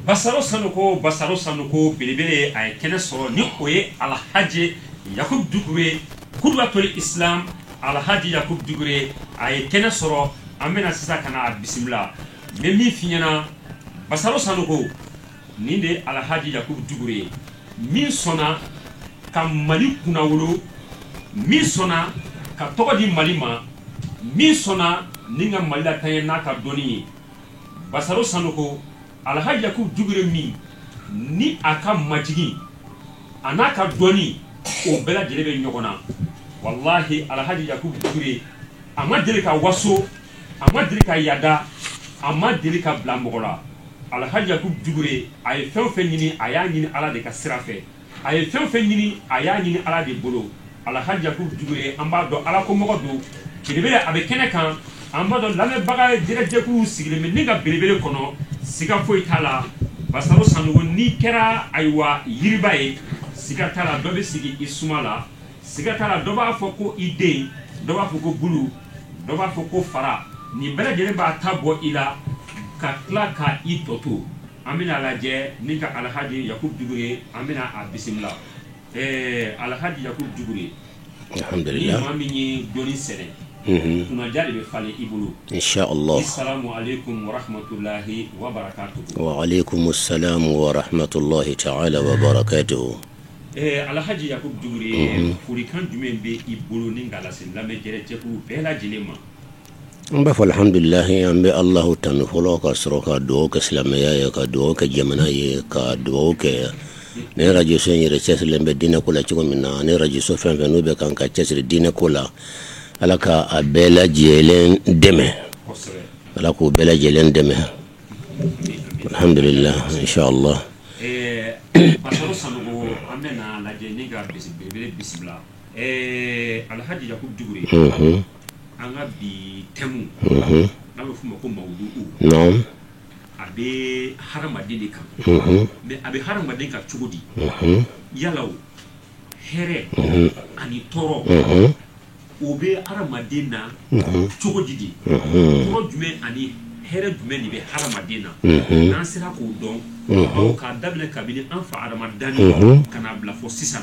Basaro sanɔgɔ basaro sanɔgɔ belebele a ye kɛnɛ sɔrɔ ni o ye alahaji yakubu dukure kuduwatuli isilamu alahaji yakubu dukure a ye kɛnɛ sɔrɔ an bɛna sisan ka na a bisimila min fiɲɛ na basaro sanɔgɔ nin de ye alahaji yakubu dukure ye min sɔnna ka mali kunnawolo min sɔnna ka tɔgɔ di mali ma min sɔnna ni ka mali lataa ɲɛ n'a ka dɔnni ye basaro sanɔgɔ alahaji yakubu dukure min ni a ka majigin an'a ka dɔnni o bɛɛ lajɛlen bɛ ɲɔgɔn na walahi alahaji yakubu dukure a ma deli ka waso a ma deli ka yaada a ma deli ka bila mɔgɔ la alahaji yakubu dukure a ye fɛn o fɛn ɲini a y'a ɲini ala de ka sira fɛ a ye fɛn o fɛn ɲini a y'a ɲini ala de bolo alahaji yakubu dukure an b'a dɔn ala ko mɔgɔ don belebele a bɛ kɛnɛ kan an b'a dɔn lamɛnbaga jɛrɛjɛkulu sigilen bɛ ni ka belebele kɔnɔ siga foyi t'a la basaro sanɔgɔ n'i kɛra ayiwa yiriba ye siga t'a la dɔ bɛ sigi i suma la siga t'a la dɔ b'a fɔ ko i den dɔ b'a fɔ ko bulu dɔ b'a fɔ ko fara nin bɛɛ lajɛlen b'a ta bɔ i la ka tila ka i tɔ to an bɛna lajɛ ni ka alahaji yakubu dukure an bɛna a bisimila ɛɛ alahaji yakubu dukure ni maa min ye dɔnni sɛnɛ kunnaja de bɛ falen i bolo salamu alekum warahimatulayi wabarakatu wa alekum salamu warahimatulayi taala wabarakatu ɛɛ alahaji yakubu dukure folikan jumɛn bɛ i bolo ni ka a lasin lamɛn jɛrɛjɛkulu bɛɛ lajɛlen ma N b'a fɔ alihamudulilayi an bɛ ala tanu fɔlɔ ka sɔrɔ ka dugawu kɛ silamɛya ye ka dugawu kɛ jamana ye ka dugawu kɛ nin arajoso in yɛrɛ cɛsirilen bɛ diinɛko la cogo min na ni arajoso fɛn o fɛn n'o bɛ kan ka cɛsiri diinɛko la ala ka a bɛɛ lajɛlen dɛmɛ ala k'o bɛɛ lajɛlen dɛmɛ alihamudulilayi an ka bi tɛmu n'a bɛ f'a ma ko mawudu a bɛ hadamaden kan mɛ a bɛ hadamaden kan cogo di yala hɛrɛ ani tɔɔrɔ o bɛ adamaden na cogo di de tɔɔrɔ jumɛn ani hɛrɛ jumɛn de bɛ hadamaden na n'an sera k'o dɔn k'a daminɛ kabini an fa hadama danni ka na a bila fɔ sisan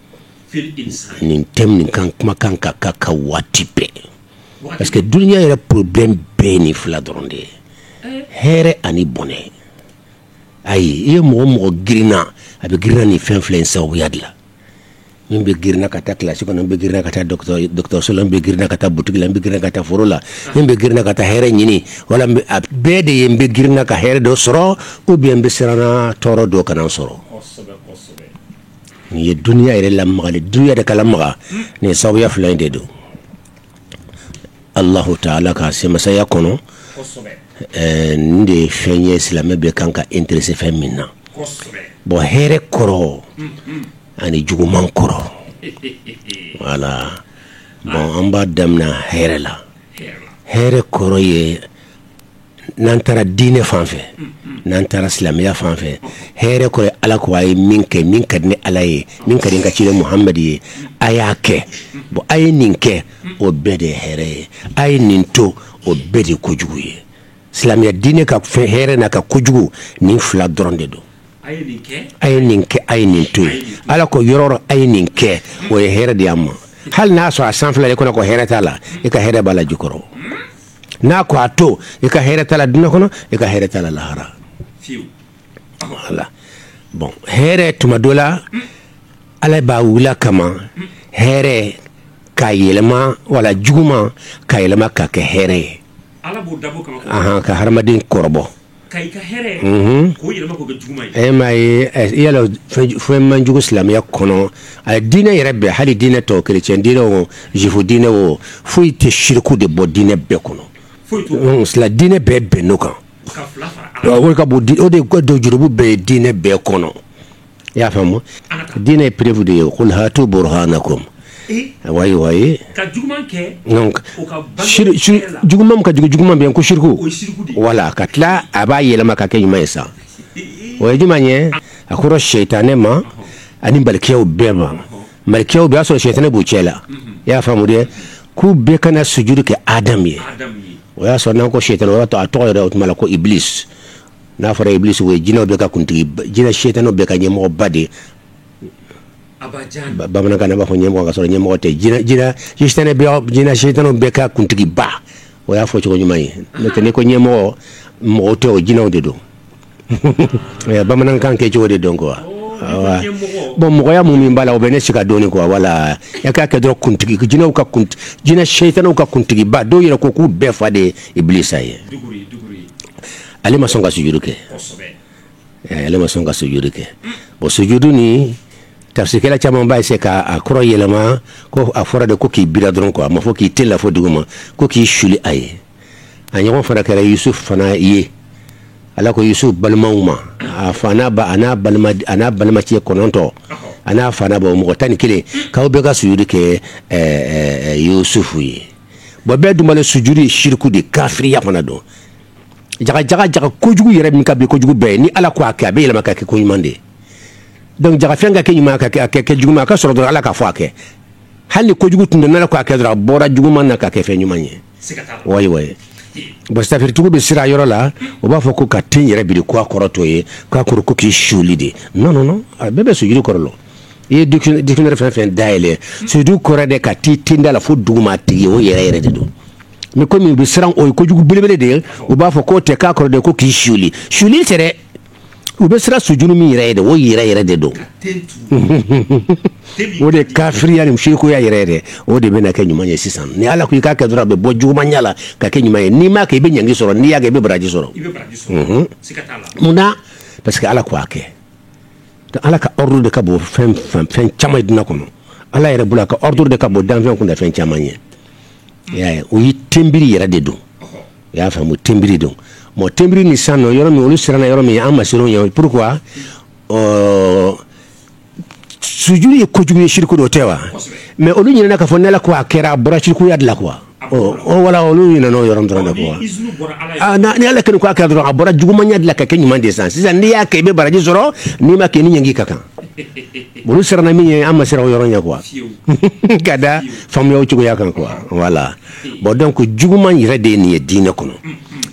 nin thème in kan kuma kan ka ka ka waati bɛɛ parce que dunya yɛrɛ problème bɛɛ nin fila dɔrɔn de ye hɛrɛ ani bɔnɛ ayi i ye mɔgɔ mɔgɔ grinna a bɛ grinna nin fɛn fila in sababuya de la min bɛ grinna ka taa kilasi kɔnɔ bɛ grinna ka taa dɔgɔtɔrɔso bɛ grinna ka taa butigi la bɛ grinna ka taa foro la min bɛ grinna ka taa hɛrɛ ɲini wala a bɛɛ de ye n bɛ grinna ka hɛrɛ dɔ sɔrɔ ou bien n bɛ siran tɔɔrɔ dɔ kana n sɔrɔ nin ye dunya yɛrɛ lamagali dunya de ka lamaga nin sababuya fila in de don alahu taala ka se masaya kɔnɔ nin de ye fɛn ye silamɛ bɛɛ kan ka intéressé fɛn min na bɔn hɛrɛ kɔrɔ ani juguman kɔrɔ wala bɔn an b'a daminɛ hɛrɛ la hɛrɛ kɔrɔ ye n'an taara diinɛ fan fɛ n'an taara silamɛya fan fɛ hɛrɛ kɔrɔ ye ala ko a ye min kɛ min ka di ne ala ye min ka di n ka ci muhamadu ye a y'a kɛ bon a ye nin kɛ o bɛɛ de ye hɛrɛ ye a ye nin to o bɛɛ de ye kojugu ye silamɛya diinɛ ka fɛn hɛrɛ n'a ka kojugu nin fila dɔrɔn de don a ye nin kɛ a ye nin to ye ala ko yɔrɔ o yɔrɔ a ye nin kɛ o ye hɛrɛ de y'a ma hali n'a sɔrɔ a sanfɛla i kɔnɔ ko hɛrɛ t'a la i ka hɛrɛ b'a la jukɔrɔ n'a ko a to i ka hɛrɛ t'a la dunya kɔnɔ i ka hɛrɛ t'a la lahara voilà bɔn hɛrɛ tuma dɔ la ala b'a wuli a kama hɛrɛ ka yɛlɛma wala juguman ka yɛlɛma ka kɛ hɛrɛ ye ka hadamaden kɔrɔbɔ m'a ye yala fɛn man jugu silamɛya kɔnɔ a dinɛ yɛrɛ bɛɛ hali dinɛ tɔw chrétien dinɛ o juif dinɛ o foyi tɛ siriku de bɔ dinɛ bɛɛ kɔnɔ dinɛ bɛɛ bɛnn'o kan o de ka bon o de ka bon jurumu bɛɛ ye dinɛ bɛɛ kɔnɔ i y'a faamu dinɛ ye preuve de ye qul hatu burhanakum wa wayi ka jugu ka jugu juguman bɛɛ ko siriku wala ka tila a b'a yɛlɛma ka kɛ ɲuman ye sa o ye ɲuman ye a ko sitanɛ ma ani malikiyaw bɛɛ ma malikiyaw bɛɛ a sɔrɔ sitanɛ b'u cɛ la i y'a faamu de k'u bɛɛ ka na sujudu kɛ adama ye o y'a sɔrɔ n'an ko sitanɛ a tɔgɔ yɛrɛ o tuma la ko ibilis n'a fɔra ibilis o ye jinɛw bɛɛ ka kuntigi jinɛ sitanɛw bɛɛ ka ɲɛmɔgɔba de ye bamanankan na an b'a fɔ ɲɛmɔgɔ ka sɔrɔ ɲɛmɔgɔ tɛ jinɛ sitanɛw bɛɛ ka kuntigiba o y'a fɔcogo ɲuman ye n'o tɛ n'i ko ɲɛmɔgɔ mɔgɔ tɛ o jinɛw de don bamanankan kɛcogo de don ko bɔn mɔgɔya minnu min b'a la u bɛ ne se ka don kuwa wala k'a kɛ dɔrɔn kuntigi jinɛw ka jinɛ sitanɛw ka kuntigiba dɔw yɛrɛ ko k'u bɛɛ fa de ye ibilisa ye ale ma sɔn ka sujuru kɛ ale ma sɔn ka sujuru kɛ bon sujudu ni tafsirikɛla caman bɛ se k'a kɔrɔ yɛlɛma ko a fɔra de ko k'i biri dɔrɔn ko a ma fɔ k'i ten la fo dugu ma ko k'i suli a ye a ɲɔgɔn fana kɛra yusufu fana ye ala ko yusufu balimaw ma a fa n'a ba n'a balimacɛ kɔnɔntɔn a n'a fa n'a ba mɔgɔ tan ni kelen k'aw bɛɛ ka sujudu kɛ yusufu ye bon bɛɛ dun b'a dɔn sujuru ye siriku de kafiriya fana don jagajaga jaga kojugu yɛrɛ min ka bon kojugu bɛɛ ye ni ala ko a kɛ a bɛ yɛlɛma ka kɛ ko ɲuman de ye dɔnku jaga fɛn ka kɛ ɲuman ka kɛ juguman a ka sɔrɔ dɔrɔn ala k'a fɔ a kɛ hali kojugu tun don n'a ko a kɛ dɔrɔn a bɔra juguman na ka kɛ fɛn ɲuman ye bon tafsiritigiw bɛ siran yɔrɔ la o b'a fɔ ko k'a ten yɛrɛ biri ko a kɔrɔ t'o ye k'a kɔrɔ ko k'i suli de a bɛɛ bɛ sujuru kɔrɔ i ye dictionnaire fɛn fɛn dayɛlɛ sujudu kɔrɔ de ka t'i tenda la fo duguma tigi o yɛrɛ yɛrɛ de don mais komi u bɛ siran o ye kojugu belebele de ye u b'a fɔ k'o tɛ k'a kɔrɔ de ko k'i suli suli tɛ dɛ u bɛ siran sujuru min yɛrɛ ye de o yɛrɛ yɛrɛ de don o de kafiriya ni musirikuya yɛrɛ yɛrɛ o de bɛna kɛ ɲuman ye sisan ni ala ko i k'a kɛ dɔrɔn a bɛ bɔ jugumanya la ka kɛ ɲuman ye n'i m'a kɛ i bɛ ɲangi sɔrɔ n'i y'a kɛ i bɛ baraji sɔrɔ mun na parce que ala ko a kɛ Ka ala ka ordre de ka bon fɛn caman ye diinɛ kɔnɔ ala yɛrɛ bolo a ka ordre de ka bon danfɛn kunda fɛn caman ye o ye tenbiri yɛrɛ de don i y'a faamu tenbiri don mɔ tenbiri nin siran yɔrɔ min olu siranna yɔrɔ min ye an ma siran o ye pourquoi sujuru ye kojugu ye siriku dɔ tɛ wa mais olu ɲinɛna k'a fɔ n'ala ko a kɛra a bɔra sirikuya de la quoi voilà olu ɲinɛn'o yɔrɔ dɔrɔn kɔ ni ala kɔni ko a kɛ dɔrɔn a bɔra jugumanya de la ka kɛ ɲuman de san sisan n'i y'a kɛ i bɛ baraji sɔrɔ n'i m'a kɛ ni ɲangi ka kan olu siranna min ye an ma siran o yɔrɔ ɲɛ quoi ka da faamuya cogoya kan quoi voilà bon donc juguman yɛrɛ de ye nin ye diinɛ kɔnɔ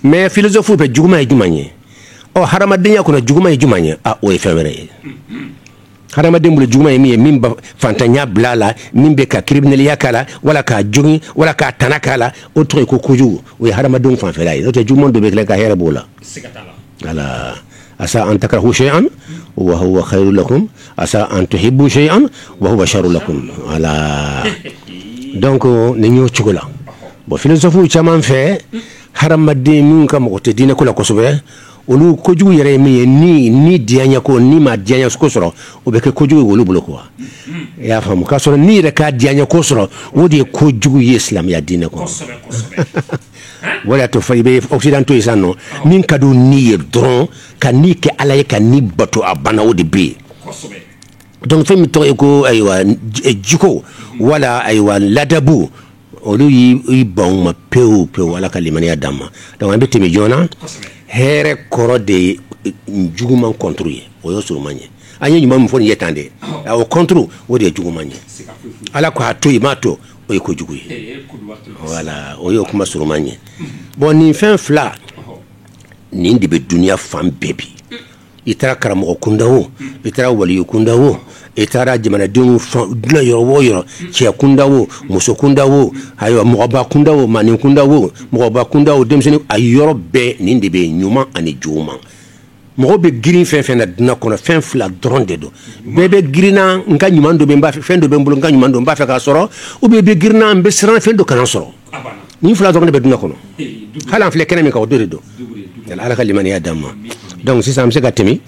mais philosophe bɛ juguman ye jumɛn ye ɔ hadamadenya kɔnɔ juguman ye jumɛn ye o ye fɛn wɛrɛ ye hadamaden bolo juguman ye min ye min bɛ faantanya bila a la min bɛ ka criminelya k'a la wala k'a jogin wala ka tana k'a la o tɔgɔ ye ko kojugu o ye hadamadenw fan fɛ la ye n'o tɛ juguman dɔ bɛ kɛ ka hɛrɛ b'o la voilà asa an takrahu shay'an wa huwa khayrun lakum asa an tuhibbu shay'an wa huwa sharrun lakum voilà donc nin y'o cogo la bon philosophe caman fɛ hadamaden min ka mako tɛ diinɛ ko la kosɛbɛ olu kojugu yɛrɛ ye min ye ni ni diya ko ni ma diya ko sɔrɔ o bɛ kɛ kojugu olu bolo quoi i y'a faamu ka sɔrɔ ni yɛrɛ ka diya ko sɔrɔ o de ye kojugu ye silamɛya diinɛ kɔnɔ o y'a to fo i bɛ occidentaux ye sisan o min ka di ni ye dɔrɔn ka ni kɛ ala ye ka ni bato a bana o de bɛ yen donc fɛn min tɔgɔ ye ko ayiwa jiko wala ayiwa ladabu olu y'i ban ma pewu pewu ala ka limaniya d'an ma an bɛ tɛmɛ joona hɛrɛ kɔrɔ de ye juguman contre ye o y'o surunman ye an ye ɲuman min fɔ ye tan de a o contre o de ye juguman ye ala ko a to i m'a to o ye kojugu ye voilà o y'o kuma surunman ye bon nin fɛn fila nin de bɛ dunya fan bɛɛ bi i taara karamɔgɔ kunda o i taara wali kunda o i taara jamanadenw dilan yɔrɔ o yɔrɔ cɛ kunda o muso kunda o ayiwa mɔgɔba kunda o maanin kunda o mɔgɔba kunda o denmisɛnnin a yɔrɔ bɛɛ nin de bɛ yen ɲuman ani juguman mɔgɔ bɛ girin fɛn fɛn na dunya kɔnɔ fɛn fila dɔrɔn de don bɛɛ bɛ girinna n ka ɲuman dɔ n b'a fɛ fɛn dɔ bɛ n bolo n ka ɲuman dɔ n b'a fɛ k'a sɔrɔ ou bien bɛ girinna n bɛ siran fɛn dɔ kana sɔrɔ nin fila dɔrɔn de bɛ dunya kɔnɔ hali an filɛ kɛnɛ min kan o dɔ de don ala ka limaniya d'an ma dɔnku sisan an bɛ se ka tɛmɛ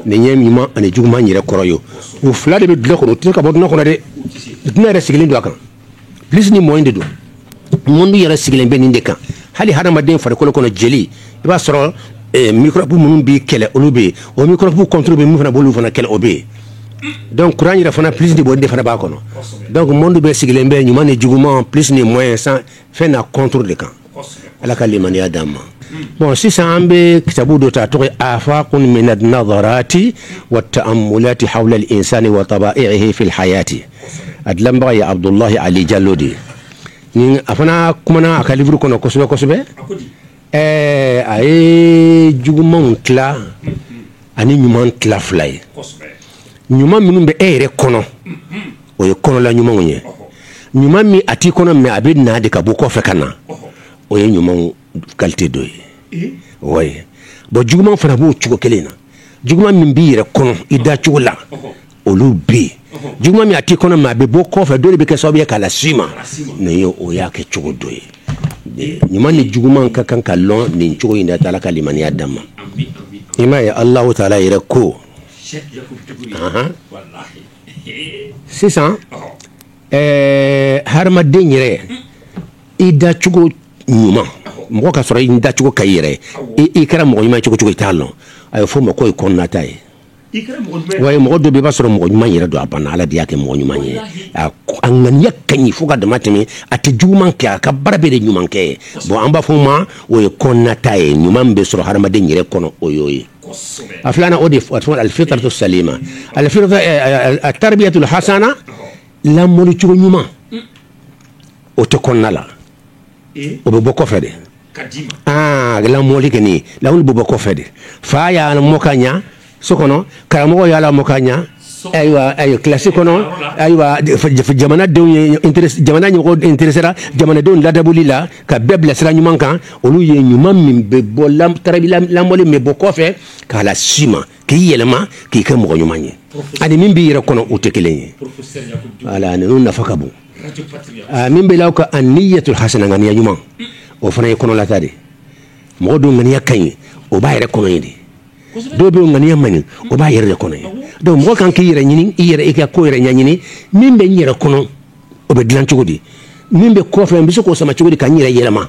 nin ye ɲuman ani juguman yɛrɛ kɔrɔ ye o fila de bɛ dunya kɔnɔ o tɛ se ka bɔ dunya kɔnɔ dɛ dunya yɛrɛ sigilen don a kan plus ni moins de don monde yɛrɛ sigilen bɛ nin de kan hali hadamaden farikolo kɔnɔ jeli i b'a sɔrɔ microbe minnu b'i kɛlɛ olu bɛ yen o microbe contre bɛ min fana b'olu fana kɛlɛ o bɛ yen dɔnku kuran yɛrɛ fana plus de bɔ de fana b'a kɔnɔ dɔnku monde nin tɔ bɛɛ sigilen bɛ ɲuman ni juguman plus ni moins ye san fɛn n'a contre de kan ala ka limaniya d'an ma bon sisan an bɛ kitabu dɔ ta tɔgɔ afaqun min an-nadarati wa ta'ammulati hawla al-insani wa taba'ihi fi al-hayati a dilanbaga ye abudulayi ali jalo de ye a fana kumana a ka liburu kɔnɔ kosɛbɛ kosɛbɛ Ɛɛ a ye jugumanw tila ani ɲuman tila fila ye ɲuman minnu bɛ e yɛrɛ kɔnɔ o ye kɔnɔla ɲumanw ye ɲuman min a t'i kɔnɔ mɛ a bɛ na de ka bɔ kɔfɛ ka na o ye ɲuman kalite dɔ ye o bon juguman fana b'o cogo kelen na juguman min b'i yɛrɛ kɔnɔ i da cogo la olu bɛ yen juguman min a t'i kɔnɔ mɛ a bɛ bɔ kɔfɛ dɔ de bɛ kɛ sababu ye k'a lase i ma nin ye o y'a kɛ cogo dɔ ye ɲuman ni juguman ka kan ka lɔn nin cogo in de la ala ka limaniya d'an ma i m'a ye alahu taala yɛrɛ ko sisan ɛɛ hadamaden yɛrɛ i dacogo ɲuman mɔgɔ k'a sɔrɔ i dacogo ka ɲi yɛrɛ i kɛra mɔgɔ ɲuman cogo cogo i t'a dɔn a bɛ fɔ o ma k'o ye kɔnɔnata ye mɔgɔ dɔ bɛ i b'a sɔrɔ mɔgɔ ɲuman yɛrɛ don a banna ala de y'a kɛ mɔgɔ ɲuman ye a ŋaniya ka ɲi fo ka dama tɛmɛ a tɛ juguman kɛ a ka baara bɛɛ de ɲuman kɛ ye bon an b'a fɔ o ma o ye kɔnɔnata ye ɲuman bɛ sɔrɔ hadamaden yɛrɛ kɔnɔ o y'o ye a filanan o de al-fitratu salima at-tarbiyatul hasana lamɔli cogo ɲuman o tɛ kɔnɔna la o bɛ bɔ kɔfɛ de lamɔli kɛ nin lamɔli bɛ bɔ kɔfɛ de fa y'a lamɔ ka ɲɛ so kɔnɔ karamɔgɔ y'a lamɔ ka ɲɛ ayiwa kilasi kɔnɔ ayiwa jamana ɲɛmɔgɔ intéressé jamanadenw ladamuli la ka bɛɛ bila sira ɲuman kan olu ye ɲuman min bɛ bɔ lamɔli min bɛ bɔ kɔfɛ k'a lase i ma k'i yɛlɛma k'i kɛ mɔgɔ ɲuman ye ani min b'i yɛrɛ kɔnɔ o tɛ kelen ye nafa ka bon Aa min bɛ'aw ka aniyatul hasana ŋaniya ɲuman o fana ye kɔnɔlata de mɔgɔ dɔ ŋaniya ka ɲi o b'a yɛrɛ kɔnɔ ye de dɔw bɛ ŋaniya man ɲi o b'a yɛrɛ de kɔnɔ donc mɔgɔ kan k'i yɛrɛ ɲini i yɛrɛ i ka ko yɛrɛ ɲɛɲini min bɛ n yɛrɛ kɔnɔ o bɛ dilan cogo di min bɛ kɔfɛ n bɛ se k'o sama cogo di ka n yɛrɛ yɛlɛma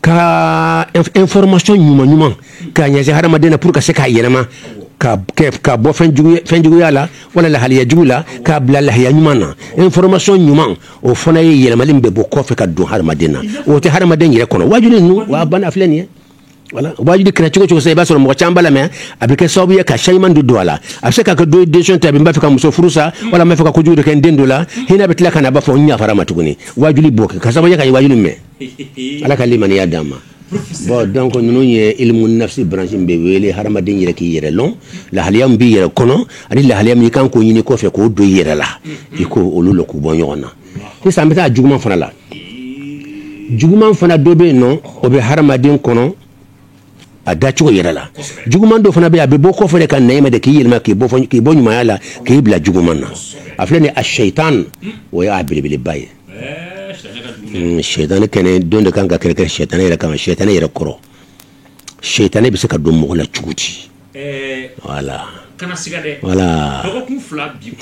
ka information ɲuman ɲuman k'a ɲɛsin hadamaden na pour que ka se k'a yɛlɛma ka ka bɔ fɛn jugu fɛn juguya la wala lahaliya jugu la k'a bila lahaliya ɲuman na information ɲuman o fana ye yɛlɛmali min bɛ bɔ kɔfɛ ka don hadamaden na o tɛ hadamaden yɛrɛ kɔnɔ waajuli ninnu wa bana filɛ nin ye voilà waajuli kɛra cogo o cogo sa i b'a sɔrɔ mɔgɔ caman b'a lamɛn a bɛ kɛ sababu ye ka changement de don a la a bɛ se ka kɛ dɔ ye décision ta bi n b'a fɛ ka muso furusa wala n b'a fɛ ka kojugu de kɛ n den dɔ la hinɛ bɛ tila ka na a b'a fɔ n yafara a ma tuguni waajuli b'o kɛ k'a sababu ye ka waajuli mɛn Ala ka limaniya d'an ma bon donc ninnu ye ilimu nafsi branche bɛ wele hadamaden yɛrɛ k'i yɛrɛ dɔn lahaliya min b'i yɛrɛ kɔnɔ ani lahaliya min i kan k'o ɲini kɔfɛ k'o don i yɛrɛ la i k'olu lɔn k'u bɔ ɲɔgɔn na sisan an bɛ taa juguman fana la juguman fana dɔ bɛ yen nɔ o bɛ hadamaden kɔnɔ a dacogo yɛrɛ la juguman dɔ fana bɛ yen a bɛ bɔ kɔfɛ ka na i ma de k'i yɛlɛma k'i k'i bɔ ɲumanya la k'i bila juguman na a filɛ nin a sɛtan o y'a belebeleba ye Sɛtan kɛnɛ don de kan ka kɛlɛ kɛ sɛtanɛ yɛrɛ kan sɛtanɛ yɛrɛ kɔrɔ sɛtanɛ bɛ se ka don mɔgɔ la cogo di voilà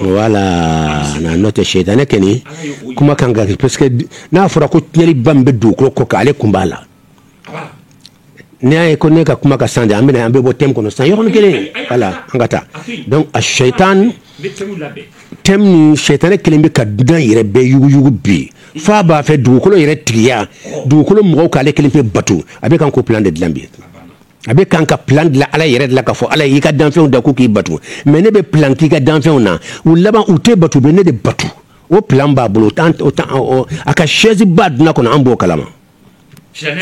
voilà n'o tɛ sɛtanɛ kɛnɛ kuma ka ca parce que n'a fɔra ko tiɲɛli ba min bɛ dugukolo kɔ kan ale kun b'a la n'i y'a ye ko ne ka kuma ka san de an bɛna an bɛ bɔ thème kɔnɔ san yɔrɔnin kelen voilà an ka taa donc a sɛyitan thème nin sɛyitani kelen bɛ ka duniya yɛrɛ bɛɛ yuguyugu bi f'a b'a fɛ dugukolo yɛrɛ tigiya dugukolo mɔgɔw k'ale kelen pe bato a bɛ kan ka plan de dilan bi a bɛ kan ka plan dilan ala yɛrɛ de la k'a fɔ ala y'i ka danfɛnw da ko k'i bato mais ne bɛ plan k'i ka danfɛnw na u laban u t'i bato u bɛ ne de bato o plan b'a bolo a ka chaise ba duniya kɔnɔ an b'o kalama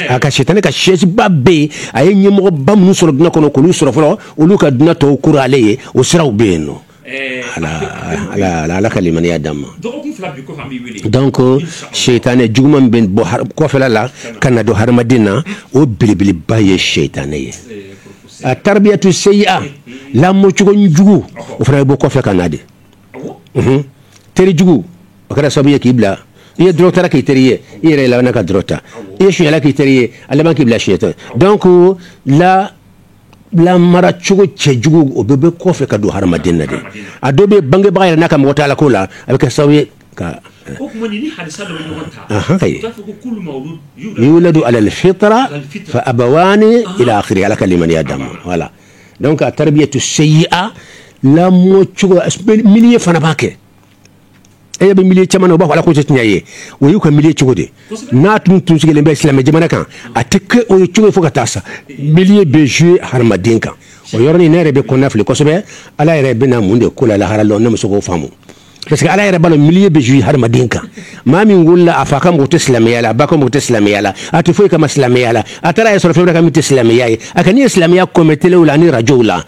a ka sɛtanɛ ka chaise ba bɛ yen a ye ɲɛmɔgɔ ba minnu sɔrɔ duniya kɔnɔ k'olu sɔrɔ fɔlɔ olu ka duniya tɔw kolo ale ye o siraw bɛ yen ala ka limaniya d'an ma donc sɛtanɛ juguman bɛ bɔ kɔfɛ la ka na don hadamaden na o belebeleba ye sɛtanɛ ye a taribiyatu sayiya lamɔcogo jugu o fana bɛ bɔ kɔfɛ ka na de terijugu o kɛra sababu ye k'i bila i ye dɔrɔgu tala k'i teri ye i yɛrɛ laban ka dɔrɔgu ta i ye suɲɛla k'i teri ye a laban k'i bila suɲɛ dɔ donc lamara cogo cɛjugu o bɛɛ bɛ kɔfɛ ka don hadamaden na a dɔ bɛ bangebaga yɛrɛ n'a ka mɔgɔ t'ala ko la a bɛ kɛ sababu ye ka yuladu alal fitira fa abawa ala ka limaniya d'a ma voilà donc ataribiyatu seyia lamɔ cogo milieu fana b'a kɛ e bɛ milieu caman na u b'a fɔ ala ko tɛ tiɲɛ ye o y'u ka milieu cogo de n'a tun tun sigilen bɛ silamɛ jamana kan a tɛ kɛ o ye cogo fo ka taa sa milieu bɛ jouer hadamaden kan o yɔrɔ nin ne yɛrɛ bɛ kɔnɔnafili kosɛbɛ ala yɛrɛ bɛna mun de k'o la lahara lon ne ma se k'o faamu parce que ala yɛrɛ b'a dɔn milieu bɛ jouer hadamaden kan maa min wolola a fa ka mɔgɔ tɛ silamɛya la a ba ka mɔgɔ tɛ silamɛya la a tɛ foyi kalama silamɛya la a taara a yɛrɛ sɔrɔ fɛn wɛrɛ kan min tɛ silamɛya ye a kɔni ye silamɛya ko mɛn telew la ani rajow la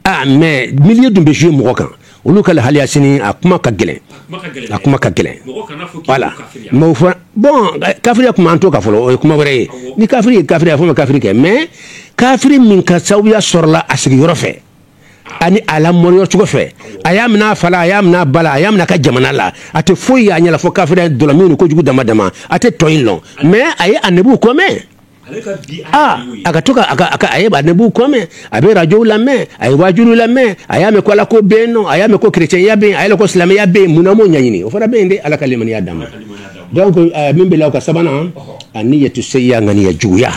ah mais milieu dun bɛ jouer mɔgɔ kan olu ka lahaliya sini a kuma ka gɛlɛn a kuma ka gɛlɛn voilà mais o fɔra bon kafiriya kuma an t'o kan fɔlɔ o ye kuma wɛrɛ ye ni kafiri ye kafiri a fɔ ma kafiri kɛ mais kafiri min ka sababuya sɔrɔla a sigiyɔrɔ fɛ ani a lamɔyɔrɔ cogo fɛ a y'a minɛ a fa la a y'a minɛ a ba la a y'a minɛ a ka jamana la a tɛ foyi y'a ɲɛ na fo kafiriya dɔlɔmin ni kojugu dama dama a tɛ tɔ in lɔn mais a ye anabiw ko mɛn aa a ka to ka a ka a ka a ye anabiw ko mɛn a bɛ rajow lamɛn a ye wajuliw lamɛn a y'a mɛn ko ala ko bɛ yen nɔ a y'a mɛn ko kerecɛnya bɛ yen a y'a mɛn ko silamɛya bɛ yen mun na a m'o ɲɛɲini o fana bɛ yen de ala ka limaniya d'a ma donc min bɛ la o kan sabanan anniyatu seyia ŋaniya juguya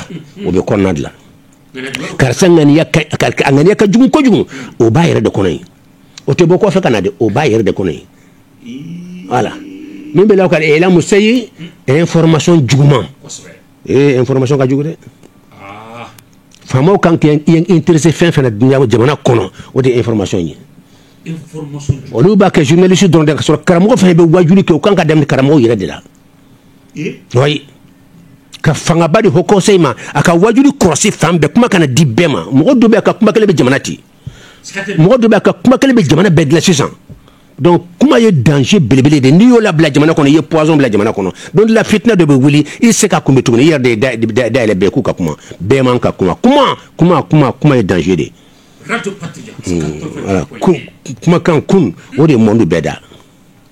o bɛ kɔnɔna de la karisa ŋaniya a ŋaniya ka jugu kojugu o b'a yɛrɛ de kɔnɔ yen o tɛ bɔ kɔfɛ ka na dɛ o b'a yɛrɛ de kɔnɔ yen voilà min bɛ la o kan elamu seyi information juguman ee information ka jugu dɛ ah. faamaw kan k'i intéresser fɛn fɛn na jamana kɔnɔ o de ye information ye olu b'a kɛ journaliste dɔrɔn de ka sɔrɔ karamɔgɔ fana bɛ wajuli kɛ u kan ka daminɛ karamɔgɔ yɛrɛ de la ka fangaba di haut conseil ma a ka wajuli kɔlɔsi fan bɛɛ kuma kana di bɛɛ ma mɔgɔ dɔ bɛ ka kuma kelen bɛ jamana ci mɔgɔ dɔ bɛ ka kuma kelen bɛ jamana bɛɛ dilan sisan donc kuma ye danger belebele de n'i y'o labila jamana kɔnɔ i ye poison bila jamana kɔnɔ don la fitinɛ dɔ bɛ wuli i tɛ se k'a kunbɛn tuguni i yɛrɛ da yɛlɛ bɛɛ k'u ka kuma bɛɛ man ka kuma kuma kuma kuma kuma ye danger de kumakan kun o de ye monde bɛɛ da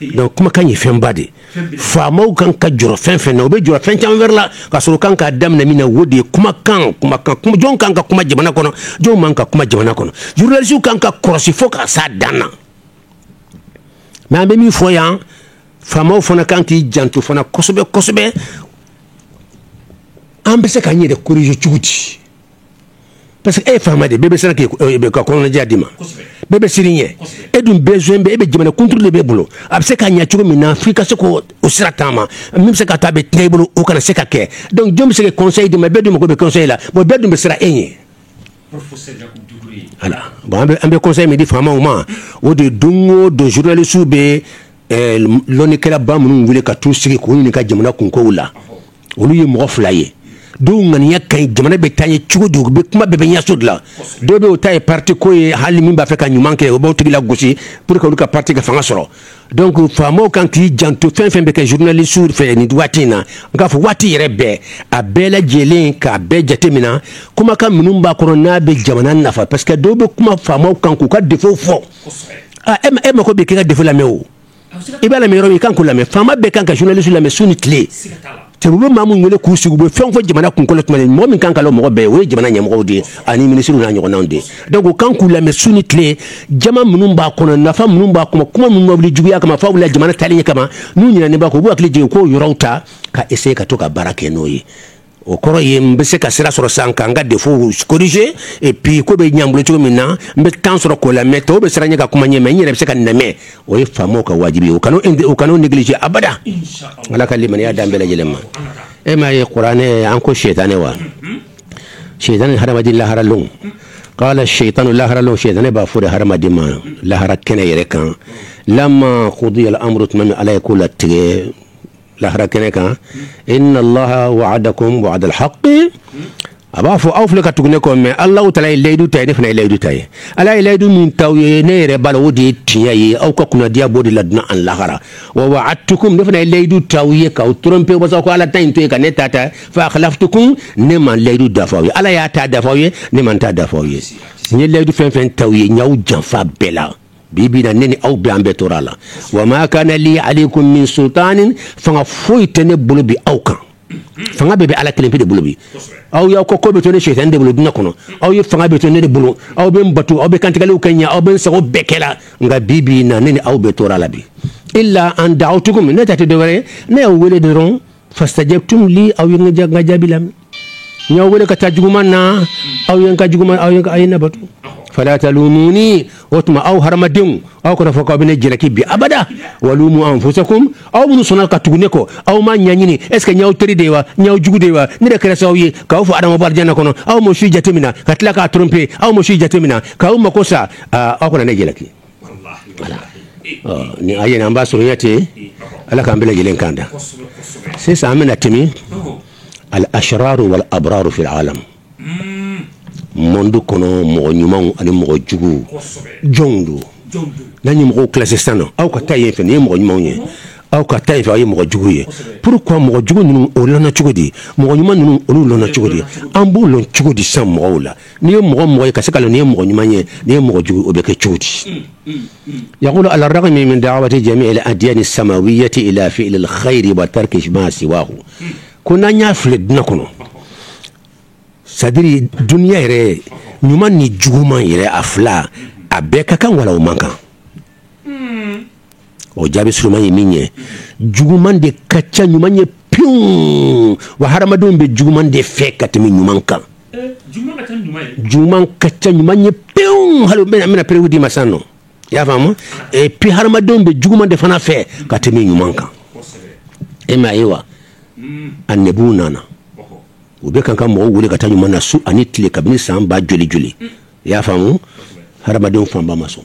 donc kumakan ye fɛnba de faamaw kan ka jɔrɔ fɛn fɛn na u bɛ jɔrɔ fɛn caman wɛrɛ la ka sɔrɔ u kan ka daminɛ min na o de ye kumakan kumakan jɔn kan ka kuma jamana kɔnɔ jɔn man kan ka kuma jamana kɔnɔ journalistew kan ka kɔlɔsi fo ka s'a dan na mais an bɛ min fɔ yan faamaw fana kan k'i janto fana kosɛbɛ kosɛbɛ an bɛ se k'an yɛrɛ corriger cogo di parce que e ye faama de bɛ se ka kɔnɔnajɛya di i ma bɛɛ bɛ siran i ɲɛ e dun bɛ e bɛ jamana contrôle de b'i bolo a bɛ se ka ɲɛ cogo min na fo i ka se ka o sira taama min bɛ se ka taa bɛɛ tiɲɛ i bolo o kana se ka kɛ dɔnku jɔn bɛ se ka conseil di i ma bɛɛ dun mako bɛ conseil la bon bɛɛ dun bɛ siran e ɲɛ an bɛ conseil min di faamaw ma o de don o don zurunalisiw bɛ lɔnnikɛla ba minnu wele ka t'u sigi k'u ɲininka jamana kunkow la olu ye mɔgɔ fila ye dɔw ŋaniya ka ɲi jamana bɛ taa ɲɛ cogo di bɛ kuma bɛɛ bɛ ɲɛsin o de la dɔw bɛ o ta ye pati ko ye hali min b'a fɛ ka ɲuman kɛ o b'o tigi lagosi pour que olu ka pati ka fanga sɔrɔ dɔnku ko faama kan k'i janto fɛn fɛn bɛ kɛ zurunalisiw fɛ nin waati in na n k'a fɔ waati yɛrɛ bɛɛ a bɛɛ lajɛlen k'a bɛɛ jateminɛ kumakan minnu b'a kɔnɔ n'a bɛ jamana nafa parce que dɔw bɛ kuma faama kan k'u ka défaut fɔ e mako bɛ k'e ka défaut lamɛn o i b'a lamɛn yɔrɔ min i kan k'o lamɛn faama bɛɛ kan ka zurunalisiw lamɛn su ni tile te bɛ maa min wele k'u sigi u bɛ fɛn fɔ jamana kunko la tuma mɔgɔ min kan k'a lamɛn bɛɛ o ye jamana ɲɛmɔgɔ de ye ani ministre n'a ɲɔgɔnnaw de dɔnku ko kan k'u lamɛn su ni tile jama minnu b'a kɔnɔ nafa minnu b'a kɔnɔ kuma minnu wuli juguya kama fɔ wala jamana taali ɲɛ kama n'u ɲinɛnen b'a kɔ u b'u hakili jigin k'o yɔrɔw ta ka essayer ka to ka baara kɛ n'o ye o kɔrɔ ye n bɛ se ka sira sɔrɔ sisan ka n ka défaut corriger et puis ko bɛ ɲɛ n bolo cogo min na n bɛ tan sɔrɔ k'o lamɛn tɔw bɛ siran n ɲɛ ka kuma n ye mɛ n yɛrɛ bɛ se ka nɛmɛ o ye faama ka wajibi u kan'o négliger abada ala ka limaniya danbe yɛlɛma e m'a ye kuranɛ an ko sɛtanɛ wa sɛtanɛ ni hadamaden lahara lon qala shaytanu lahara lon sɛtanɛ b'a fɔ de hadamaden ma lahara kɛnɛ yɛrɛ kan lamma qudiya al-amru tuma min ala ye ko latigɛ lahara kɛnɛ kan inna allaha wa'adakum wa'da al-haqq a b'a fɔ aw filɛ ka tugu ne kɔ mɛ ala taala ye layidu ta ye ne fana ye layidu ta ye ala ye layidu min t'aw ye ne yɛrɛ b'a lɔn o de ye tiɲɛ ye aw ka kunnadiya b'o de la dunya ani lahara wa wa'adtukum ne fana ye layidu t'aw ye k'aw trompe walasa ka ala ta in to yen ka ne ta ta fa akhlaftukum ne ma layidu dafa aw ye ala y'a ta dafa aw ye ne ma n ta dafa aw ye n ye layidu fɛn fɛn t'aw ye n y'aw janfa bɛɛ la bi bi na ne ni aw bɛ an bɛɛ tora a la wa ma kana li alaykum min sultanin fanga foyi tɛ ne bolo bi aw kan fanga bɛɛ bɛ ala kelen pe de bolo bi aw y'aw ko ko bɛɛ to ne sɛtanɛ de bolo dunya kɔnɔ aw ye fanga bɛɛ to ne de bolo aw bɛ n bato aw bɛ kantigɛliw kɛ n ye aw bɛ n sago bɛɛ kɛla nka bi bi na ne ni aw bɛɛ tora a la bi illa an da'awtukum ne ta tɛ dɔwɛrɛ ye ne y'aw weele dɔrɔn fastajabtum li aw ye n ka jaabi lamɛn n y'aw wele ka taa juguman na aw ye n ka juguman aw ye n ka- a ye ne bato fala talumuni o tuma aw hadamadenw aw kana fɔ k'aw bɛ ne jalaki bi abada walumu anfusakum aw minnu sɔnna ka tugu ne kɔ aw m'a ɲɛɲini est ce que n y'aw teri de ye wa n y'aw jugu de ye wa ne de kɛra sababu ye k'aw fa adama bɔ alijana kɔnɔ aw ma o si jateminɛ ka tila k'aw trompe aw ma o si jateminɛ k'aw mako sa aa, aw kana ne jalaki ni a ɲin an b'a sɔrɔya ten ala k'an bɛɛ lajɛlen kanda sisan an bɛna tɛmɛ al ashrar wal abrar fi al alam monde kɔnɔ mɔgɔ ɲumanw ani mɔgɔ jugu jɔnw don n'an ye mɔgɔw kilasi san don aw ka taa yen fɛ nin ye mɔgɔ ɲumanw ye aw ka taa yen fɛ aw ye mɔgɔ jugu ye pourquoi mɔgɔ jugu ninnu o lɔnna cogo di mɔgɔ ɲuman ninnu o lɔnna cogo di an b'u lɔn cogo di san mɔgɔw la n'i ye mɔgɔ mɔgɔ ye ka se k'a lɔn nin ye mɔgɔ ɲuman ye nin ye mɔgɔ jugu o bɛ kɛ cogo di mm, mm, mm. yaqulu ala ragmi min dawati jamii al adiyani samawiyati ila fiili alkhairi wa tarki ma siwahu ko n'an y'a filɛ duniya kɔnɔ c'est à dire duniya yɛrɛ ɲuman ni juguman yɛrɛ a fila a bɛɛ ka kan wala o man kan o jaabi surunman ye min ye juguman de ka ca ɲuman ye point wa hadamadenw bɛ juguman de fɛ ka tɛmɛ ɲuman kan juguman ka ca ɲuman ye point hali bɛna bɛna preuve di ma sa nɔ i y'a faamu et puis hadamadenw bɛ juguman de fana fɛ ka tɛmɛ ɲuman kan e ma ye wa annabiw nana u bɛ kan ka mɔgɔw wele ka taa ɲuman na su ani tile kabini san ba joli joli i y'a faamu hadamadenw fanba ma sɔn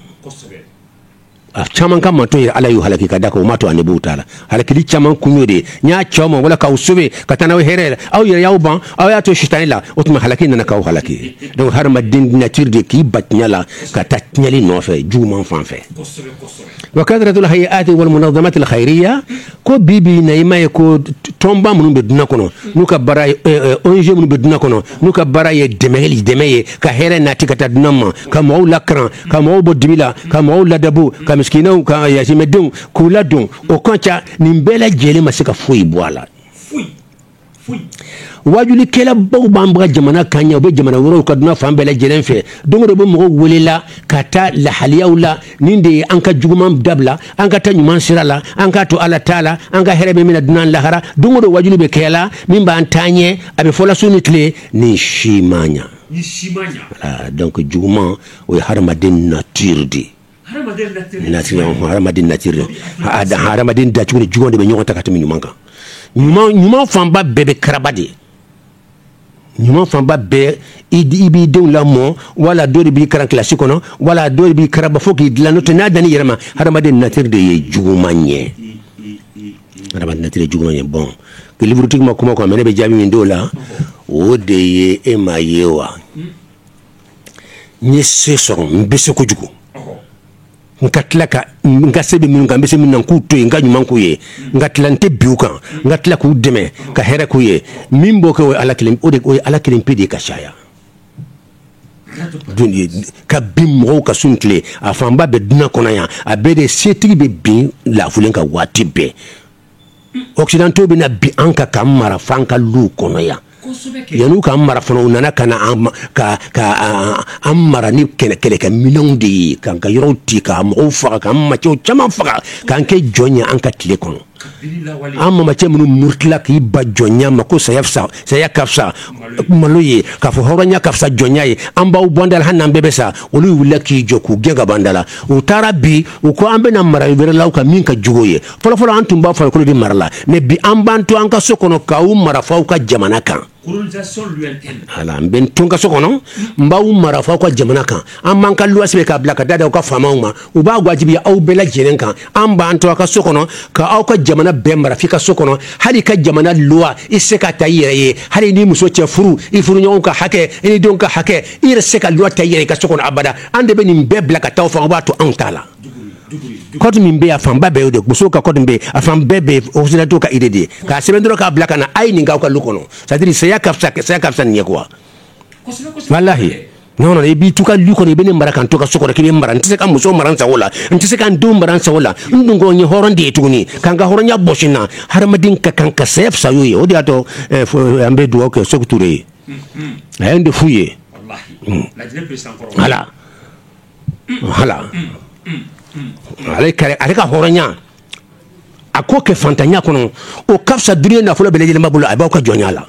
a caman ka mato ye ala y'u halaki ka d'a kan u m'a to annabiw ta la halakili caman kun y'o de n y'a ci aw ma wala k'aw sɔbɛ ka taa n'aw hɛrɛ aw yɛrɛ y'aw ban aw y'a to sitanɛ la o tuma halaki nana k'aw halaki donc hadamaden nature de k'i ban tiɲɛ la ka taa tiɲɛnli nɔfɛ juguman fan fɛ wa kathratul hayaati wal munazzamat al khairiyya ko bi bi na i ma ye ko tɔnba minnu bɛ duniya kɔnɔ n'u ka baara ye eh, eh, ONG minnu bɛ duniya kɔnɔ n'u ka baara ye dɛmɛli dɛmɛ ye ka hɛrɛ nati ka taa duniya ma ka mɔgɔw lakaran ka mɔgɔw bɔ dibi la ka mɔgɔw ladabu ka misikinɛw ka yatimɛdenw k'u ladon o ka ca nin bɛɛ lajɛlen ma se ka foyi bɔ a la wajulikɛlabaw b'an bara jamana kan yan u bɛ jamana wɛrɛw kan duniya fan bɛɛ lajɛlen fɛ don o don u bɛ mɔgɔw welela ka taa lahaliyaw la nin de ye an ka juguman dabila an ka taa ɲuman sira la an k'a to ala ta la an ka hɛrɛ bɛ min na duniya ni lahara don o don wajuli bɛ kɛ la min b'an taa ɲɛ a bɛ fɔla su ni tile nin si ma ɲa donc juguman o ye hadamaden nature de ye hadamaden nature hadamaden dacogo ni juguman de bɛ ɲɔgɔn ta ka tɛmɛ ɲuman kan ɲuman fanba bɛɛ bɛ karaba de ye ɲuman fanba bɛɛ i i b'i den lamɔ wala dɔ de b'i kalan kilasi kɔnɔ wala dɔ de b'i karaba fo k'i dilan n'o tɛ n'a dan ni yɛrɛ ma hadamaden nature de ye juguman ye hadamaden nature de juguman ye bon que liburutigi ma kuma kɔni mais ne bɛ jaabi min d'o la o de ye e ma ye wa n ye se sɔrɔ n bɛ se kojugu n ka tila ka n ka se bɛ minnu kan n bɛ se min na k'u to yen n ka ɲuman k'u ye n ka tila n tɛ bin u kan n ka tila k'u dɛmɛ ka hɛrɛ k'u ye min b'o kɛ o ye ala kelen o de o ye ala kelen pe de ye ka caya don ye ka bin mɔgɔw kan su ni tile a fanba bɛ dunan kɔnɔ yan a bɛɛ de setigi bɛ bin lafulen kan waati bɛɛ occidentaux bɛ na bi an kan k'an mara f'an ka lu kɔnɔ yan yan ka mara u nana ka an mara ni kɛlɛ kɛlɛkɛminɛnw de ye k'an ka yɔrɔ ti ka mɔgɔw faga ka maa caman faga k'an kɛ jɔn ye an ka tile kɔnɔ an mama cɛ minnu murutila k'i ban jɔnya ma ko saya fisa saya ka fisa malo ye k'a fɔ hɔrɔnya ka fisa jɔnya ye an b'aw bɔ an da la hali n'an bɛɛ bɛ sa olu wulila k'i jɔ k'u gɛn ka b'an da la u taara bi u ko an bɛna mara wɛrɛ l'aw kan min ka jugu ye fɔlɔfɔlɔ an tun b'aw farikolo de mara la mais bi an b'an to an ka so kɔnɔ k'aw mara f'aw ka jamana kan n bɛ n to n ka so kɔnɔ n b'aw mara f'aw ka jamana kan an b'an ka loi sɛbɛn k'a bila ka t'a d'aw ka faamaw ma u b'a wajibiya aw bɛɛ lajɛlen kan an b'an to aw ka so kɔnɔ k'aw ka jamana bɛɛ mara f'i ka so kɔnɔ hali i ka jamana loi i se k'a ta i yɛrɛ ye hali i n'i muso cɛ furu i furuɲɔgɔn ka hakɛ i denw ka hakɛ i yɛrɛ se ka loi ta i yɛrɛ i ka so kɔnɔ abada an de bɛ nin bɛɛ bila ka taa aw fan o b'a to anw t'a la code min bɛ a fanba bɛɛ y'o de musow ka code min bɛ yen a fan bɛɛ bɛ occidentaux ka idée de ye k'a sɛbɛn dɔrɔn k'a bila ka na a ye nin k'aw ka lu kɔnɔ c'est-à-dire saya ka fisa saya ka fisa nin ye quoi walahi non non i b'i to i ka lu kɔnɔ i bɛ ne mara ka n to n ka so kɔnɔ k'i bɛ n mara n tɛ se ka n muso mara n sago la n tɛ se ka n denw mara n sago la n dun ko n ye hɔrɔn de ye tuguni ka n ka hɔrɔnya bɔsi n na hadamaden ka kan ka saya fisaya o ye o de y'a to eh, an bɛ dugawu kɛ sékou touré ye a ye nin de f'u ye ala ale ka hɔrɔnya a k'o kɛ faantanya kɔnɔ o ka fisa duniya nafolo bɛɛ lajɛlen b'a bolo a b'aw ka jɔnya la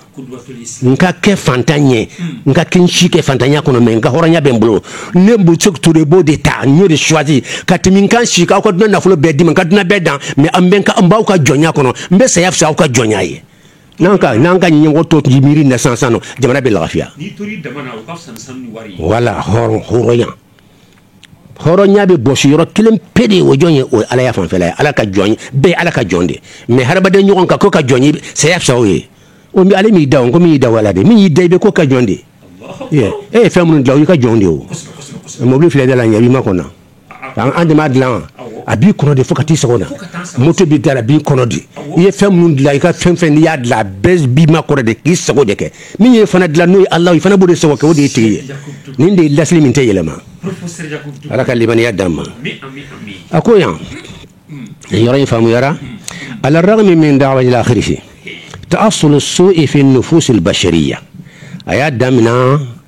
n ka kɛ faantan ye n ka kɛ n si kɛ faantanya kɔnɔ mais n ka hɔrɔnya bɛ n bolo ne sékou touré b'o de ta n y'o de choisi ka tɛmɛ n ka n sigi aw ka dunan nafolo bɛɛ di n ma n ka dunan bɛɛ dan mais n b'aw ka jɔnya kɔnɔ n bɛ saya fisa aw ka jɔnya ye n'an ka n'an ka ɲɛmɔgɔ tɔw tun ye miiri na sisan sisan nɔ jamana bɛ lafiya voilà hɔrɔn hɔrɔnya hɔrɔnya bɛ bɔsi yɔrɔ kelen pe de ye o jɔn ye o ye alaya fanfɛla ye ala ka jɔn ye bɛɛ ye ala ka jɔn de mais hadamaden ɲɔgɔn ka n k'o ka jɔn ye saya fisa o ye o ale m'i da o ko min y'i da ala de min y'i da i bɛ k'o ka jɔn de ye e ye fɛn minnu dilan o y'i ka jɔn de ye o mobili filɛ i da la yen b'i makɔnɔ an de y'a dilan a b'i kɔnɔ de fo ka t'i sago na moto b'i da la a b'i kɔnɔ de i ye fɛn minnu dilan i ka fɛn fɛn n'i y'a dilan a bɛɛ b'i makɔnɔ de k'i sago de kɛ min y'i fana dilan n'o ye ala i fana b'o de sago kɛ o de y'i tigi ye nin de ye lasili min tɛ yɛlɛma ala ka limaniya d'an ma a ko yan yɔrɔ in faamuyara ala ragmi min da ala kisi ta'assul su'i fi nufusil bashariyya a y'a daminɛ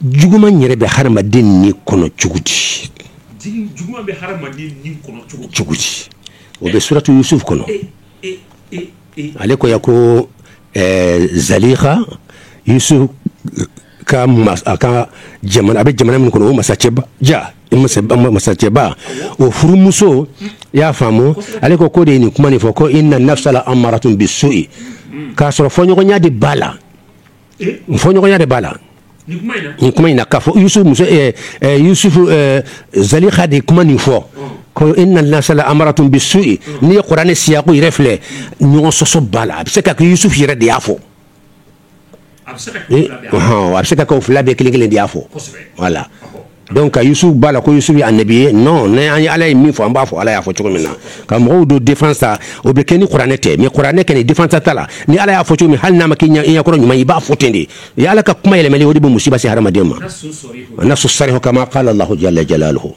Juguma yɛrɛ bɛ hadamaden ni kɔnɔ cogo di cogo di o bɛ suratu Yusuf kɔnɔ ale ko ko zaliha Yusuf ka jamana a bɛ jamana min kɔnɔ o masacɛba ja masacɛba o furumuso i y'a faamu ale ko ko de ye nin kuma nin fɔ ko inna nafsa la amaratun bisu'i k'a sɔrɔ fɔɲɔgɔnya de b'a la fɔɲɔgɔnya de b'a la nin kuma in na k'a fɔ Yusuf muso Yusuf zaliha de kuma nin fɔ ko inna nafsa la amaratun bisu'i n'i ye kuranɛ nin siyaku yɛrɛ filɛ ɲɔgɔn sɔsɔ b'a la a bɛ se ka kɛ Yusuf yɛrɛ de y'a fɔ a bɛ se ka kɛ o fila bɛɛ kelen kelen de y'a fɔ voilà dɔnku ka Yusuf b'a la ko Yusuf ye anabi ye nɔn ne an ye ala ye min fɔ an b'a fɔ ala y'a fɔ cogo min na ka mɔgɔw don défense o bɛ kɛ ni kuranɛ tɛ mɛ kuranɛ kɛ défense ta la ni ala y'a fɔ cogo min hali n'a ma k'i ɲɛkɔrɔ ɲuman i b'a fɔ ten de i ala ka kuma yɛlɛma o de bɛ musiba se hadamaden ma nasu sarihu kama qala Allahu jalla jalaluhu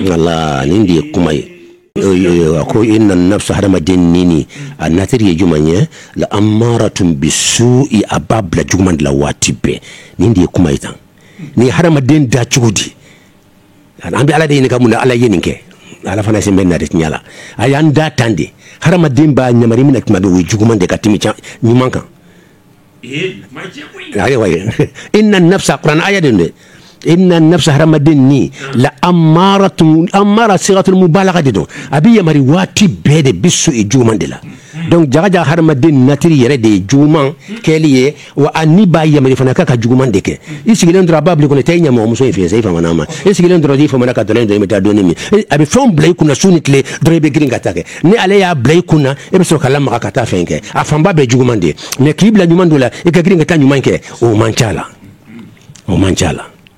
voilà nin de ye kuma ye a ko inna nafsa hadamaden ni a natiri ye jumɛn ye la amaratun bisu'i a b'a bila juguman de la waati bɛɛ nin de ye kuma ye tan ni hadamaden da cogo di an bɛ ala de ɲininka mun na ala ye nin kɛ ala fana sen bɛ na de tiɲɛ la a y'an da tan de hadamaden b'a yamari min na tuma bɛɛ o ye juguman de ka tɛmɛ ɲuman kan ayiwa inna nafsa kuran aya de dɛ inna nafsa hadamaden ni la amaratun amara sigatu mubalaga de don a bɛ yamari waati bɛɛ de bisu'i juguman de la dɔnku jaga hadamaden natiri yɛrɛ de ye juguman kɛli ye wa a ni b'a yamari fana k'a ka juguman de kɛ i sigilen dɔrɔn a b'a bila i kɔnɔ taa i ɲamɔgɔmuso in fɛ sa i famana a ma i sigilen dɔrɔn i famana ka dɔrɔ min i bɛ taa dɔɔnin min a bɛ fɛn bila i kun na su ni tile dɔrɔn i bɛ girin ka taa a kɛ ni ale y'a bila i kun na e bɛ sɔrɔ ka lamaga ka taa fɛn kɛ a fanba bɛɛ juguman de mɛ k'i bila ɲuman dɔ la i ka girin ka taa ɲuman kɛ o man ca la o man ca la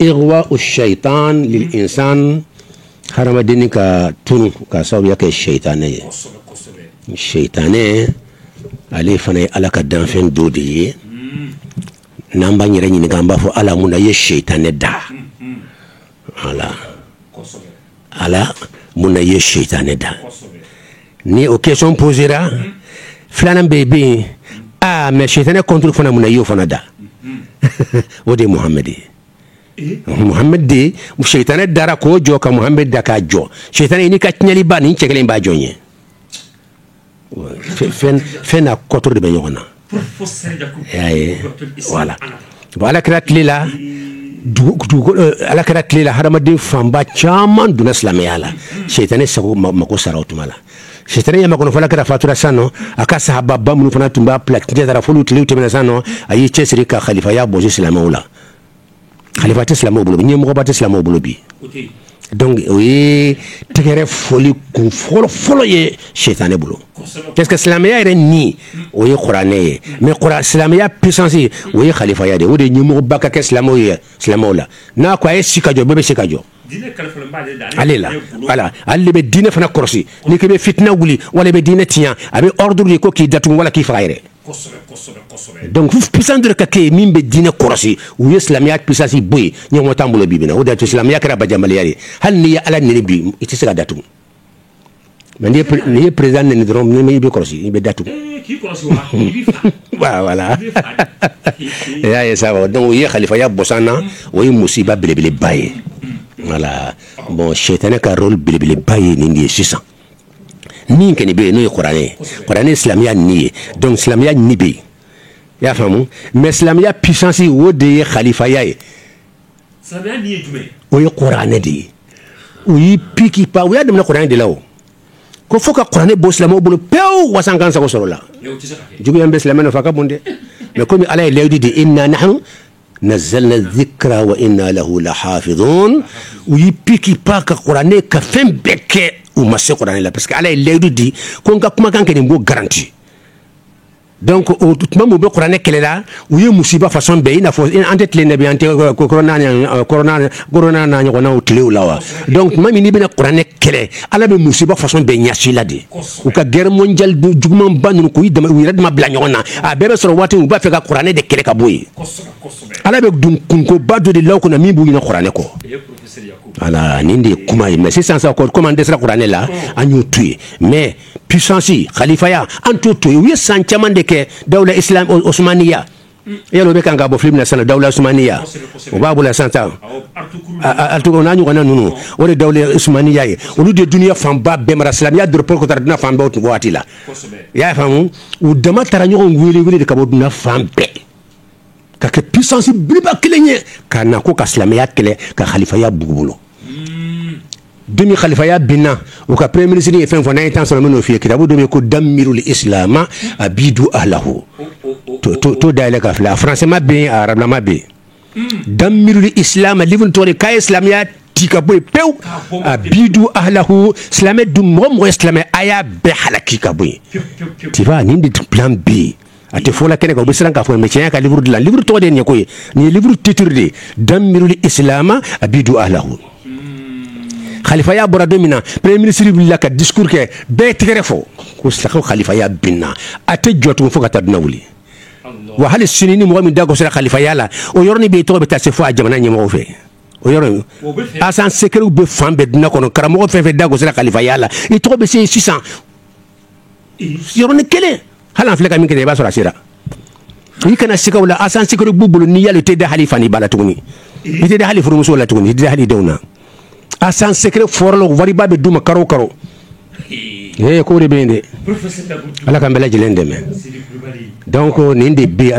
igwa'u sɛtan lil insan hadamaden ka tunun ka sababuya kɛ sɛtanɛ ye sɛtanɛ ale fana ye ala ka danfɛn dɔ de ye n'an b'an yɛrɛ ɲininka an b'a fɔ ala mun na i ye sɛtanɛ da ala ala mun na i ye sɛtanɛ da ni o question posera filanan bɛ bɛ yen aa mɛ sɛtanɛ contre fana mun na i y'o fana da o de ye Muhammad ye Muhammad de sɛtanɛ dara k'o jɔ ka Muhammad da k'a jɔ sɛtanɛ n'i ka tiɲɛnliba nin cɛ kelen b'a jɔn ye fɛn na kɔto de bɛ ɲɔgɔn na voilà voilà kira tile la ala kira tile la hadamaden fanba caman donna silamɛya la sitanɛ sago mako sara o tuma la sitanɛ y'a makɔnɔ fo kira fatura sa nɔ a ka sahabaw minnu fana tun b'a pti fo olu tile tɛmɛna sa nɔ a y'i cɛsiri ka kalifaya bɔsi silamɛw la tɛ silamɛw bolo bi ɲɛmɔgɔba tɛ silamɛw bolo bi donc o ye tɛgɛrɛ fɔli kun fɔlɔ fɔlɔ ye sitanɛ bolo parce que silamɛya yɛrɛ ni o ye kuranɛ ye mais silamɛya puissance o ye kalifaya de o de ɲɛmɔgɔba ka kɛ silamɛw ye silamɛw la n'a ko a ye si ka jɔ bɛɛ bɛ se ka jɔ ale la voilà ale bɛ diinɛ fana kɔlɔsi ni k'i bɛ fitinɛ wuli wala i bɛ diinɛ tiɲɛ a bɛ ordre di ko k'i datugu wala k'i faga yɛrɛ donc fo puissance dɔ ka kɛ min bɛ diinɛ kɔlɔsi u ye silamɛya puissance bɔ yen ɲɛmɔgɔ t'an bolo bi bi in na o de y'a to silamɛya kɛra bajanbila ye hali n'i ye ala nɛni bi i tɛ se ka datugu Mais n'i ye président nɛni dɔrɔn min i bɛ kɔlɔsi i bɛ datugu voilà e y'a ye sa donc u ye kalifaya bɔsi an na o ye musiba belebeleba ye voilà bon sitanɛ ka rôle belebeleba ye nin de ye sisan min kɔni bɛ yen n'o ye kuranɛ ye kuranɛ ni silamɛya ni ye donc silamɛya ni bɛ yen i y'a faamu mais silamɛya puissance o de ye kalifaya ye o ye kuranɛ de ye u y'i piki pa u y'a daminɛ kuranɛ de la u ko fo ka kuranɛ bɔ silamɛw bolo pewu wasa an k'an sago sɔrɔ la juguya min bɛ silamɛ nɔfɛ a ka bon dɛ mais kɔmi ala ye layidu di inna nahnu nazzalna dhikra wa inna lahu lahafidhun u y'i piki pan ka kuranɛ ka fɛn bɛɛ kɛ u ma se kuranɛ la parce que ala ye layidu di ko n ka kumakan kɛ ne b'o garanti donc o tuma min u bɛ kuranɛ kɛlɛ la u ye musiba fasɔn bɛɛ i n'a fɔ an tɛ tile in na bi an tɛ corona n'a ɲɔgɔnw tile la wa donc tuma min n'u bɛna kuranɛ kɛlɛ ala bɛ musiba fasɔn bɛɛ ɲɛsi la de u ka guerre mondiale jugumanba ninnu k'u yɛrɛ dama bila ɲɔgɔn na a bɛɛ bɛ sɔrɔ waati min u b'a fɛ ka kuranɛ de kɛlɛ ka bɔ yen ala b'u don kunkoba dɔ de la kɔnɔ min b'u ɲinɛ kuranɛ kɔ nin de ye kuma ye mais sisan sa kɔmi an dɛsɛra kuranɛ la an y'o to yen mais puissance khalifaya an t'o to yen u ye san caman de kɛ dawula islam osmaniya yalo bɛ kan ka bɔ filimi na sisan dawula osmaniya o b'a bolo sisan tan ertugrul n'a ɲɔgɔnna ninnu o de dawula osmaniya ye olu de duniya fanba bɛɛ mara silamɛya dɔrɔn ko taara duniya fan bɛɛ o waati la i y'a faamu u dama taara ɲɔgɔn wele wele de ka bɔ duniya fan bɛɛ ka kɛ puissance belebeleba kelen ye ka na ko ka silamɛya kɛlɛ ka khalifaya bɔ u bolo don min khalifaya binna u ka premier ministre ye fɛn fɔ n'an ye temps sɔrɔ n bɛn'o f'i ye kitabu dɔ bɛ yen ko damirul islama abidu ahlahu to to to dayɛlɛ ka filɛ a françaislama bɛ yen a arabilama bɛ yen damirul islama livre tɔgɔ de k'a ye silamɛya ti ka bɔ yen pewu abidu ahlahu silamɛ dun mɔgɔ o mɔgɔ ye silamɛ a y'a bɛɛ halaki ka bɔ yen tu vois nin de plan bɛ yen A tɛ fɔ la kɛnɛ kan u bɛ siran k'a fɔ mais cɛ nin y'a ka livre dilan livre tɔgɔ de ye nin ye ko ye nin ye livre titre de ye damirul islama abidu ahlahu khalifaya bɔra don min na premier ministre wulila ka discours kɛ bɛɛ tɛgɛrɛ fɔ ko sa khalifaya binna a tɛ jɔ tugun fo ka taa duniya wuli wa hali sini ni mɔgɔ min da gosira khalifaya la o yɔrɔnin bɛɛ i tɔgɔ bɛ taa se fo a jamana ɲɛmɔgɔw fɛ o yɔrɔ agent secretw bɛ fan bɛɛ duniya kɔnɔ karamɔgɔ fɛn o fɛn da gosira khalifaya la i tɔgɔ bɛ se yen sisan yɔrɔnin kelen hali an filɛ ka min kɛ i b'a sɔrɔ a sera i kana sika u la agent secret b'u bolo n'i y'a lɔn i tɛ da hali i fa n'i ba la tuguni i tɛ da hali i furumuso la tuguni i tɛ da hali i denw na agent secret fɔlɔ wariba bɛ d'u ma kalo o kalo ee ko de bɛ yen dɛ ala k'an bɛɛ lajɛlen dɛmɛ donc nin de bɛ a la